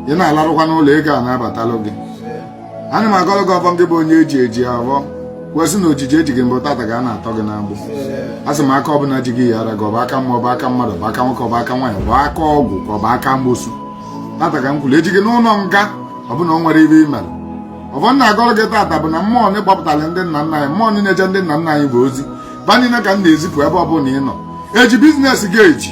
ị na-alarụkwa n'ụlọ ego a na-abatalụ gị ana m agọlụ gị ọvọ gị bụ onye eji eji abọ kwesị na ojiji eji gị bụ tata ka a na-atọ gị n'agbụ asị m aka ọbụla ji gị yara gị ọ bụ aka mmụọ ọ bụ aka mmadụ ọ bụ aka nwoke ọ bụ aka nwaanyị ọ bụ aka ọgwụ ka ọ bụ aka amosu tata ka m kwuru eji gị n'ụnọ nga ọ bụ na o nwere ive i mere ọvọ m na-agọlụ gị tata bụ na mmụọ na-agbapụtara ndị nna nna anyị mmụọ na-eje ndị nna nna anyị bụ ozi va niile ka m na-ezipụ ebe ọbụla ị nọ eji bizinesi gị eji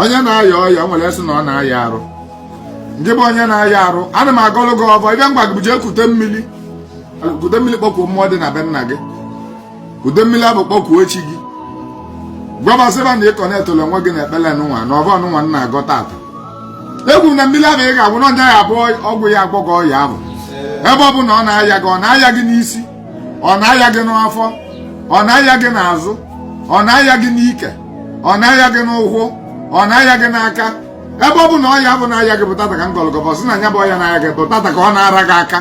onye na-aya ọya nwere sị na ọ na-aya arụ ngị bụ onye na-aya arụ ana m agọlụ gị ọvọ ịbịa ngwa gị jee kute mmiri kute mmiri kpọkuo mmụọ dị na be nna gị kute mmiri avụ kpọkuo chi gị gwa va sị va na ị connectụlụ onwe gị na ekpele nụnwa na ọvọ nụnwa m na-agọ tata ekwu na mmiri avụ ị ga-aṅụ na nya abụ ọgwụ ya agwọ gị ọya avụ ebe ọbụna ọ na-aya gị ọ na-aya gị n'isi ọ na-aya gị n'afọ ọ na-aya gị n'azụ ọ na-aya gị n'ike ọ na-aya gị n'ụkwụ ọ na-aya gị n'aka ebe ọbụna ọya avụ na-aya gị bụ tata ka m gọlụ gị ọvọ sị na nya bụ ọya na-aya gị bụ tata ka ọ na-ara gị aka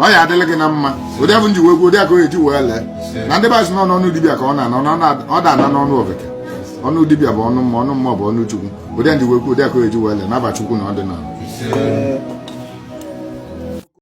ọ ya-adịlị gị na mma ụdị avụ m ji wee kwuo ụdị a ka ọ ya-eji wee lee na ndị be anyị sị na ọ n'ọnụ dibịa ka ọ na-anọ ọ da-anọ n'ọnụ ofeke ọnụ dibịa bụ ọnụ mmụọ ọnụ mmụọ bụ ọnụ chukwu ụdị m ji wee kwuo ụdị a ka ọ ya-eji wee lee n'ava chukwu na ọ dị n'ọnụ